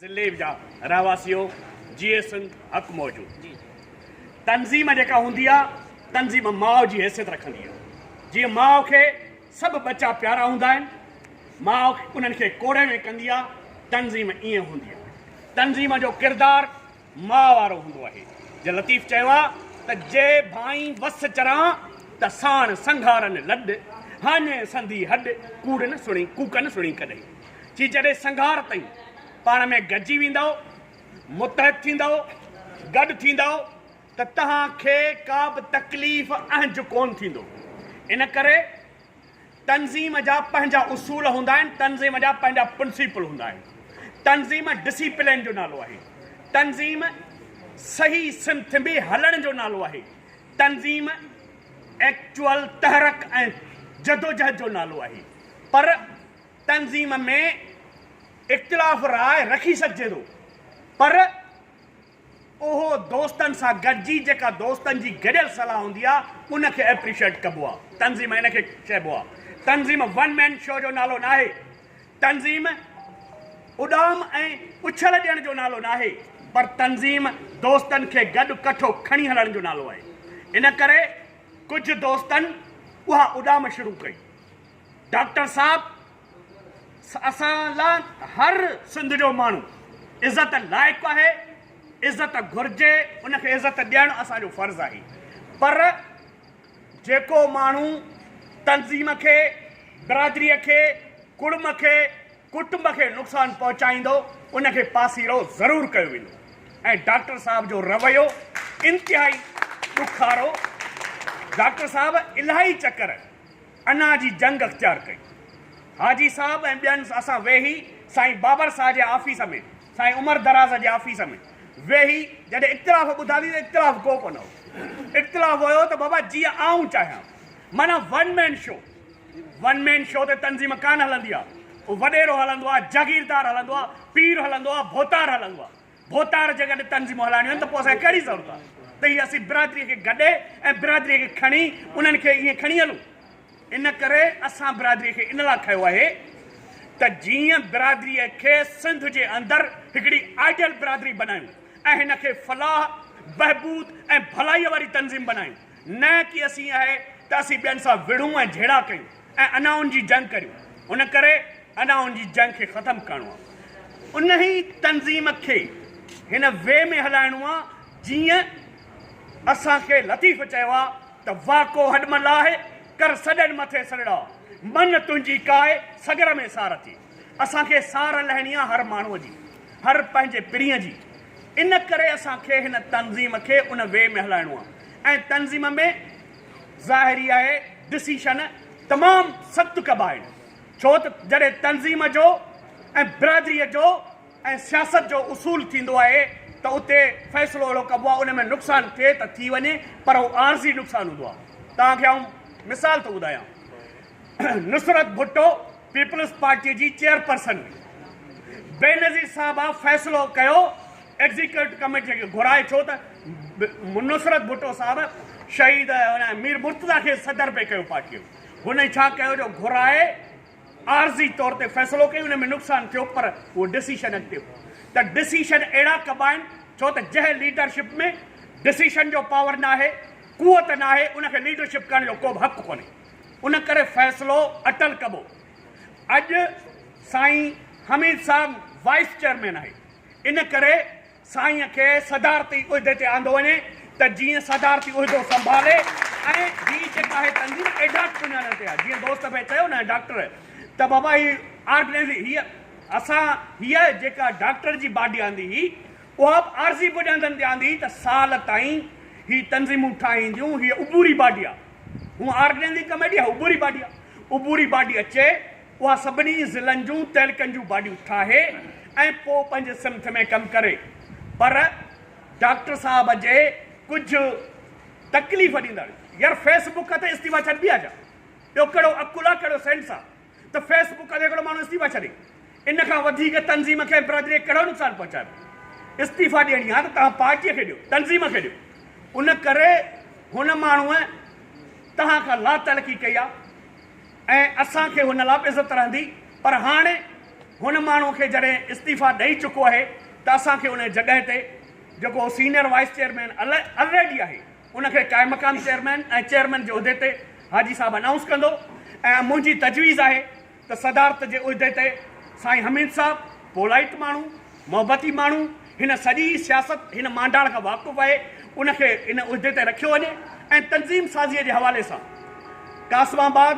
ضلعي جا رهواسيو جي اي سنڌ حق موجود تنظيم جيڪا هوندي آ تنظيم ماء جي حيثيت رکندي آ جي ماء کي سڀ بچا پيارا هوندا آهن ماء انهن کي ڪوڙي ۾ ڪندي آ تنظيم ائين هوندي آ تنظيم جو ڪردار ماء وارو هوندو آهي. جي لطيف چيو آ ته جي ڀانئين وس چران ته ساڻ سنگهارن لڏ، هاڃي سندي هڏ، ڪوڙ نه سڻين ڪوڪن سڻين ڪڏهين. چي جڏهن سنگهار تئين پاڻ ۾ گڏجي ويندؤ، متحد ٿيندؤ، گڏ ٿيندؤ ته تهان کي ڪا به تڪليف اهنج ڪونه ٿيندو. ان ڪري تنظيم جا پنهنجا اصول هوندا آهن، تنظيم جا پنهنجا پرنسيپل هوندا آهن، تنظيم ڊسيپلين جو نالو آهي، تنظيم صحيح سمت ۾ هلڻ جو نالو آهي، تنظيم ايڪچوئل تحرڪ ۽ جدوجهد جو نالو آهي پر تنظيم ۾ اختلاف راء رکي سگهجي ٿو پر اهو دوستن سان گڏجي جيڪا دوستن جي گڏيل صلاح هوندي آ ان کي اپريشيئٽ ڪبو آ تنظيم ان کي چئبو آ تنظيم ون مين شو جو نالو ناهي تنظيم اڏام ۽ اڇل ڏيڻ جو نالو ناهي پر تنظيم دوستن کي گڏ ڪٺو کڻي هلڻ جو نالو آهي ان ڪري ڪجهه دوستن اها اڏام شروع ڪئي ڊاڪٽر صاحب اسان لا هر سنڌ جو ماڻهو عزت لائق آهي عزت گهرجي ان کي عزت ڏيڻ اسان جو فرض آهي پر جيڪو ماڻهو تنظيم کي برادري کي ڪڙم کي ڪٽنب کي نقصان پهچائيندو ان کي پاسيرو ضرور ڪيو ويندو ۽ ڊاڪٽر صاحب جو رويو انتهائي ڏکارو ڊاڪٽر صاحب الاهي چڪر انا جي جنگ اختيار ڪئي. حاجي صاحب ۽ ٻين اسان ويهي سائين بابر ساهه جي آفيس ۾ سائين عمر دراز جي آفيس ۾ ويهي جڏهن اختلاف ٻڌاتي ته اختلاف ڪو ڪونه هو. اختلاف هيو ته بابا جيئن آئون چاهيان. معنيٰ one man show. One man show تي تنظيم ڪانه هلندي آهي. وڏيرو هلندو آهي، جاگيردار هلندو آهي، پير هلندو آهي، ڀوتار هلندو آهي. ڀوتار جي گڏ تنظيمون هلائڻيون آهن ته پوء اسان کي ڪهڙي ضرورت آهي ته هي اسين برادري کي گڏي ۽ برادري کي کڻي انهن کي ائين کڻي هلون. ان ڪري اسان برادري کي ان لاء کيو آهي ته جيئن برادري کي سنڌ جي اندر هڪڙي آئيڊيل برادري بنايون ۽ هن کي فلاح، بهبود ۽ ڀلائيء واري تنظيم بنايون. نه ڪي اسين آهي ته اسين ٻين سان وڙهون ۽ جهيڙا ڪيون ۽ انائن جي جنگ ڪريون. ان ڪري انائن جي جنگ کي ختم ڪرڻو آهي. انهي تنظيم کي هن وي ۾ هلائڻو آهي جيئن اسان کي لطيف چيو آهي ته واڪو هڏ مان لاهي، ڪر سڏن مٿي سرڙا، من تنهنجي ڪاهي، سڳر ۾ سار ٿي. اسان کي سار لهڻي آ هر ماڻهوء جي، هر پنهنجي پرينء جي، ان ڪري اسان کي هن تنظيم کي ان وي ۾ هلائڻو آ ۽ تنظيم ۾ ظاهر ئي آهي ڊسيشن تمام سخت ڪبا آهن ڇو ته جڏهن تنظيم جو ۽ برادريء جو ۽ سياست جو اصول ٿيندو آهي ته اتي فيصلو اهڙو ڪبو آ ان ۾ نقصان ٿئي ته ٿي وڃي پر هو عارضي نقصان هوندو آ توهان کي آئون مثال ٿو ٻڌايان نصرت ڀٽو پيپلز پارٽي جي چيئرپرسن بينظير صاحبه فيصلو ڪيو ايگزيڪيوٽو ڪميٽي کي گهرائي ڇو ته نصرت ڀٽو صاحب شهيد مير مرتضيٰ کي صدر پئي ڪيو پارٽي هن ڇا ڪيو جو گهرائي عارضي طور تي فيصلو ڪيو ان ۾ نقصان ٿيو پر اهو ڊسيشن اڳتي هو ته ڊسيشن اهڙا ڪبا آهن ڇو ته جنهن ليڊرشپ ۾ ڊسيشن جو پاور ناهي قوت ناهي ان کي ليڊرشپ ڪرڻ جو ڪو به حق ڪونهي ان ڪري فيصلو اٽل ڪبو. اڄ سائين حميد صاحب وائيس چيئرمين آهي ان ڪري سائين کي صدارتي عهدي تي آندو وڃي ته جيئن صدارتي عهدو سنڀالي ۽ هي جيڪا آهي تنظيم ايڊاڪ سڃاڻڻ تي آهي جيئن دوست ڀي چيو نه ڊاڪٽر ته بابا هي آرگنائيز هي اسان هي جيڪا ڊاڪٽر جي باڊي آندي هي اها به عارضي بنيادن تي آندي هي ته سال تائين هي تنظيمون ٺاهينديون هي عبوري باڊي آهي. هو آر ڊين جي ڪميڊي آهي عبوري باڊي آهي عبوري باڊي اچي اها سڀني ضلعن جون تعلقن جون باڊيون ٺاهي ۽ پوء پنهنجي سمٿ ۾ ڪم ڪري پر ڊاڪٽر صاحب جي ڪجهه تڪليف ڏيندڙ يار فيس بڪ تي استعيفا ڇڏبي آهي ڇا ٻيو ڪهڙو عقل آهي ڪهڙو سينس آهي ته فيس بڪ کان سيڪڙو ماڻهو استعيفا ڇڏي ان کان وڌيڪ تنظيم کي ۽ برادري کي ڪهڙو نقصان پهچائبو. استعيفا ڏيڻي آهي ته توهان پارٽيء کي ڏيو، تنظيم کي ڏيو. ان ڪري هن ماڻهوء توهان کان لاتعلقي ڪئي آهي ۽ اسان کي هن لا به عزت رهندي پر هاڻي هن ماڻهوء کي جڏهن استعيفا ڏئي چڪو آهي ته اسان کي ان جي جڳهه تي جيڪو سينئر وائيس چيئرمين الريڊي آهي ان کي قائمقام چيئرمين ۽ چيئرمين جي عهدي تي حاجي صاحب انائونس ڪندو ۽ منهنجي تجويز آهي ته صدارت جي عهدي تي سائين حميد صاحب پولائيٽ ماڻهو، محبتي ماڻهو، هن سڄي سياست هن مانڊاڻ کان واقف آهي ان کي ان عهدي تي رکيو وڃي ۽ تنظيم سازيء جي حوالي سان قاسم آباد،